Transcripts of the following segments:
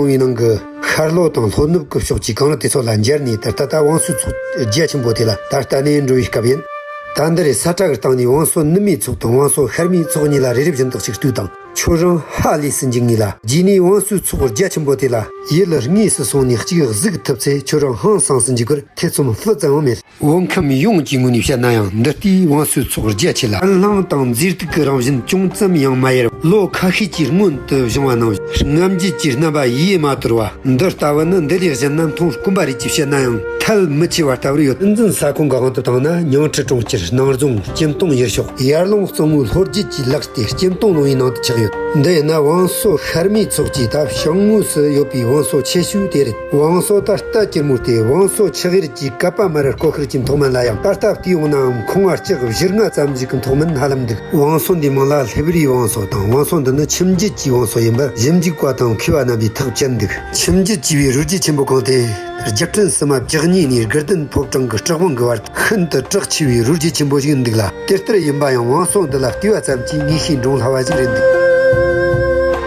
ཁང་བའི་ནང་གི་ཤར་ལྷོ་དང་ལྷོ་ནུབ་ཀྱི་ཕྱོགས་ཀྱི་གངས་རི་དེ་ཚོ་ལ་འབྱར་ནས་ད་ལྟ་ད་བང་སོའི་ཚོགས་རྒྱ་ཆེན་པོ་དེ་ལ་ད་ལྟ་ནས་འགྲོ་བའི་སྐབས་ཡིན། ད་འདི་རེ་ས་ཁྲ་གིར་བཏང་ནས་བང་སོ་ནུབ་མའི་ཚོགས་དང་བང་སོ་ཤར་མའི་ཚོགས་གཉིས་ལ་རི་རི་བཞིན་དག་ཅིག་ལྟོས་དང་ཁྱོད་རང་ཧ་ལས་སུ་འཇུག་ངེས་ལ་རྗེས་ནས་བང་སོའི་ཚོགས་རྒྱ་ཆེན་པོ་དེ་ལ་ཡིད་ལ་ངེས་སུ་སོང་ནས་གཅིག་གཟིགས་ཐུབ་ཚེ་ཁྱོད་རང་ཧང་སངས་སུ་འཇུག་གར་ཐེ་ཚོམ་སྤུ་ཙམ་ཡང་མེད། བོད་ཁམས་ཡོངས་ཀྱི་ངོས་ནས་བཤད་ན་ཡང་འདི་ལྟའི་བང་སོའི་ཚོགས་རྒྱ་ཆེ་ལ། དཀར་ལྷང་དང་མཛེས་སྡུག་གི་རང་བཞིན་ཅུང་ཙམ་ཡང་མ་ཡལ་བ། ལོ་ཁ་ཤས་ཀྱི་སྔོན་དུ་བྱུང་བ་ནང་བཞིན་རྔམ་བརྗིད་ཀྱི་རྣམ་པ་ཡེ་མ་དོར་བ། འདི་ལྟ་བུ་ནི་འདི་ལས་གཞན་ན་མཐོང་དཀོན་པ་རེད་ཅེས་བཤད་ན་ཡང་ཐལ་མི་ཆེ་བ་ལྟ་བུར་ཡོད། སྲིད་འཛིན་ས་ཁོངས་གང་དུ་བཏང་ན་ཉིང་ཁྲི་གྲོང་ཁྱེར་སྣང་རྫོང་སྐྱེམ་སྟོང་ཡུལ་ཤོག་ཡར་ཀླུང་གཙང་མོའི་ལྷོ་རྒྱུད་ཀྱི་ལག་ཏེ་སྐྱེམ་སྟོང་ལུང་ཡི་ནང་དུ་ཆགས་ཡོད། འདི་ཡིན་ན་བང་སོ་ཤར་མའི་ཚོགས་ཀྱི་ད་བྱང་ངོས་སུ་ཡོད་པའི་བང་སོ་ཆེ་ཤོས་དེ་རེད། བང་སོ་ད་ལྟ་སྐྱིར་མོ་སྟེ་བང་སོ་ཆི་ཧེར་གྱིས་གབ་པ་མི་རེར་ཀོ་ཁེར་གྱི་མཐོ་དམན་ལ་ཡང་ད་ལྟ་བལྟས་ཡོང་ནའང་ཁུང་བ་གཅིག་བཞི་ལྔ་ཙམ་ཞིག་གི་མཐོ་དམན་ཧ་ལམ་འདུག་བང་སོ་འདིའི་མིང་ལ་ལྷེབ་རིའི་བང་སོ་དང་བང་སོ་འདི་ནི་ཁྱིམ་རྒྱུད་ཀྱི་བང་སོ་ཡིན་པར་གཞི་འཇིག་པ་དང་འཁེལ་བ་རྣམ་པའི་ཐག་བཅད་འདུག་ཁྱིམ་རྒྱུད་ཅེས་པའི་རུས་རྒྱུད་ཆེན་པོ་གང་དེ་རྒྱུ་སྤྲུལ་སྲིད་མ་བརྒྱག་གཉིས་ནས་དགེ་ལྡན་ཕོ་བྲང་གི་སྤྲུལ་དབང་གི་བར་ཤིན་ཏུ་གྲགས་ཆེ་བའི་རུས་རྒྱུད་ཆེན་པོ་ཞིག་འདུག་ལ་དེ་ལྟར་ཡིན་པ་ཡང་བང་སོ་འདི་ལ་བལྟས་པ་ཙམ་གྱིས་ངེས་ཤེས་འདྲོངས་སླ་བ་ཞིག་རེད་འདུག་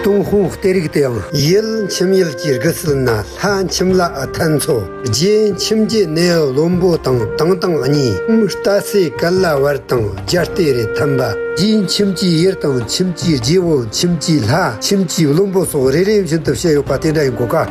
ཏུང་ཧོང་ལྟེ་རིགས་དེ་ཡང། ཡུལ་ཁྱིམ་ཡུལ་གྱི་རྒུ་སུལ་ན་ལྷ་ཁྱིམ་ལ་ཨ་ཐན་མཚོ་རྒྱལ་ཁྱིམ་གྱི་གནས་བློན་པོ་དང་དང་དང་གཉིས་རྟ་སེ་ཀ་ལ་བར་དང་རྒྱ་རྟེ་རེ་འཐམ་པ། རྒྱའི་ཁྱིམ་གྱི་གཡེར་དང་ཁྱིམ་གྱི་རྒྱལ་པོ་ཁྱིམ་གྱི་ལྷ་ཁྱིམ་གྱི་བློན་པོ་སོགས་རེ་རེ་བཞིན་དུ་བཤད་ཡོད་པ་དེ་འདྲ་ཡིན་དགོས་ཀ།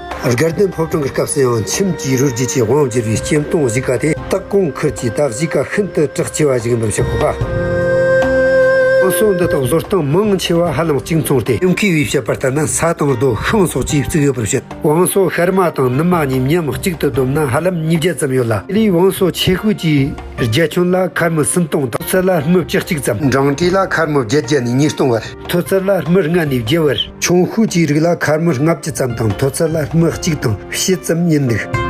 སྒེར་དོན་ཕོབ་གྲངས་ཀྱི་སྐབས་སུ་ཡང་ཁྱིམ་གྱི་རུས་རྒྱུད་ཀྱི་དབང་བསྒྱུར་བའི་སྐྱེམས་སྟོང་གཞིས་ཀ་དེ་དག་གོང་འཁོད་ཀྱི་ད་གཞིས་ཀ་ཤིན་ཏུ་གྲགས་ཆེ་བ་ཞིག་ཡིན་པ་བཤད་ཁོ་ཐག། དྲང་སྲོང་འདི་དག་བཟོ་སྟངས་མང་ཆེ་བ་ཧ་ལམ་གཅིག་མཚུངས་ཏེ་ཉུང་མཁས་པས་བཤད་པར་ལྟར་ན་ས་དང་རྡོ་ཤིང་སོགས་ཀྱིས་བཙུགས་ཡོད་པར་བཤད། བང་སོ་ཤར་མ་དང་ནུབ་མ་གཉིས་མཉམ་གཅིག་ཏུ་བསྡོམས་ན་ཧ་ལམ་ཉིས་བརྒྱ་ཙམ་ཡོད་ལ། དེ་ལས་བང་སོ་ཆེ་ཤོས་ཀྱི་རྒྱལ་ཁྱོན་ལ་ཁར་མི་སུམ་སྟོང་དང་ཚད་ལ་ཧྲྨི་བརྒྱད་གཅིག་ཙམ། འབྲང་གྲས་ལ་ཁར་མི་བརྒྱད་བརྒྱ་ནས་ཉིས་སྟོང་བར། ཐོད་རྩལ་ལ་སྨི་ལྔ་ནས་བརྒྱད་བར། ཆུང་ཤོས་ཀྱི་རིགས་ལ་ཁར་སྨི་ལྔ་བརྒྱུད་ཙམ་དང་མཐོ་རྩལ་ལ་སྨི་གཅིག་དང་བཞི་ཙམ་རྙེད་འདུག།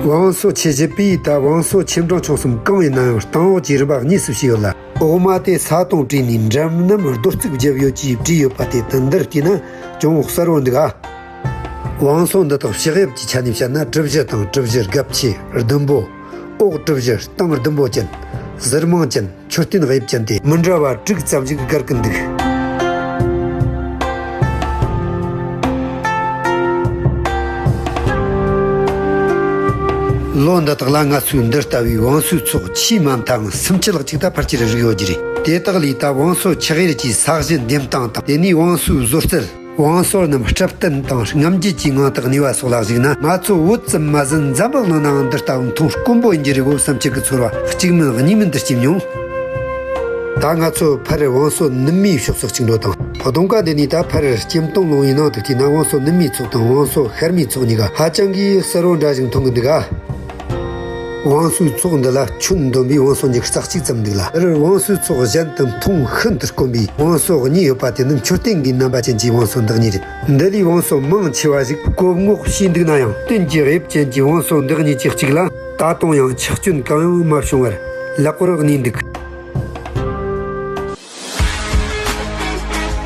བང་སོ་ཆེ་བཞི་པའི་ཡུལ་དང་བང་སོ་ཆེ་འབྲིང་ཆུང་གསུམ་གང་ཡིན་ན་ཡང་སྟེང་འོག་གི་རིམ་པ་གཉིས་སུ་ཕྱེས་ཡོད་ལ། འོག་མ་དེ་ས་དང་བྲིས་ནས་འགྲམ་རྣམས་རྡོ་རྩིག་བརྒྱབ་ཡོད་ཅེས་བྲིས་ཡོད་པ་དེ་དང་འདིར་བལྟས་ན་ཅུང་གསལ་བོ་འདུག་ཨ། བང་སོ་འདི་དག་ཕྱག་དབྱིབས་ཀྱི་ཆ་ནས་བཤད་ན་གྲུ་བཞི་དང་གྲུ་བཞིར་སྒབ་ཆེ་ཟླུམ་པོ། ཨོག་སྒྲུབ་བཞི་སྟོང་བདུན་པོ་ཅན། གཟིར་མང་ཅན་མཆོད་རྟེན་དབྱིབས་ཅན་ཏེ། མི་འདྲ་བ་དྲུག་ཙམ་ཞིག་བསྒར་གི་འདུག། ལོ་འདི་དག་ལ་ང་ཚོའི་འདི་ལྟ་བུའི་བང་སོའི་ཚོགས་ཆེས་མང་མཐའ་དང་སུམ་ཅུ་ལྷག་ཅིག་ད་ཕར་ཆེར་རིགས་ཡོད་ཀྱི་རེད། དེ་དག་ལས་ད་བང་སོ་ཆགས་ཡུལ་གྱི་ས་གཞི་འདེམས་སྟངས་དང་དེ་ནས་བང་སོའི་བཟོ་རྩལ། བང་སོ་རྣམས་སྤྲིབ་བསྟན་དང་རྔམ་བརྗིད་ཀྱི་ངང་དང་ནུས་པ་སོགས་ལ་གཞིགས་ན། ང་ཚོ་བོད་བཙན་མ་ཟིན་འཛམ་བུ་གླིང་ནའང་འདི་ལྟ་བུ་མཐོང་དཀོན་པོ་ཡིན་གྱི་རི་བོ་བསམ་གྱི་གི་ཚོར་བ་གཅིག་མིན་གཉིས་མིན་འདིར་སྐྱེས་མྱོང། ད་ང་ཚོ་ཕ་རིར་བང་སོ་ནུབ་མིའི་ཕྱོགས་སུ་བཅིངས་འགྲོ་དང་བོ་སྟོང་ཀ་འདི་ནས་ད་ཕ་རིར་སྐྱེམས་སྟོང་ལོང་ཡི་ནང་དུ་བལྟས་ན་བང་སོ་ནུབ་མིའི་ཚོགས་དང་བང་སོ་ཤར་མིའི་ཚོགས་གཉིས་ཀ་ཧ་ཅང་གིས་གསལ་བོར་འདྲ་ཞིང་མཐོང་གི་འདུག་ག། བང་སོའི་ཚོགས་འདི་ལ་ཁྱོན་བསྡོམས་པའི་བང་སོ་ཉིས་རྩ་གཅིག་ཙམ་འདུག་ལ། འདིར་བང་སོའི་ཚོགས་གཞན་དུ་མཐོང་ཤིན་ཏུ་དཀོན་པའི་བང་སོ་གཉིས་ཡོད་པ་དེ་ནི་མཆོད་རྟེན་གྱི་རྣམ་པ་ཅན་གྱི་བང་སོ་འདི་གཉིས་རེད། འདི་ལས་བང་སོ་མང་ཆེ་བ་ཞིག་བཀོད་སྔོག་བྱས་འདུག་ན་ཡང་སྟོན་གྱི་དབྱིབས་ཅན་གྱི་བང་སོ་འདི་གཉིས་ཀྱི་གཅིག་ལ་ད་དུང་ཡང་ཆག་སྐྱོན་གང་ཡང་མ་བྱུང་བར་ལེགས་པོར་གནས་འདུག།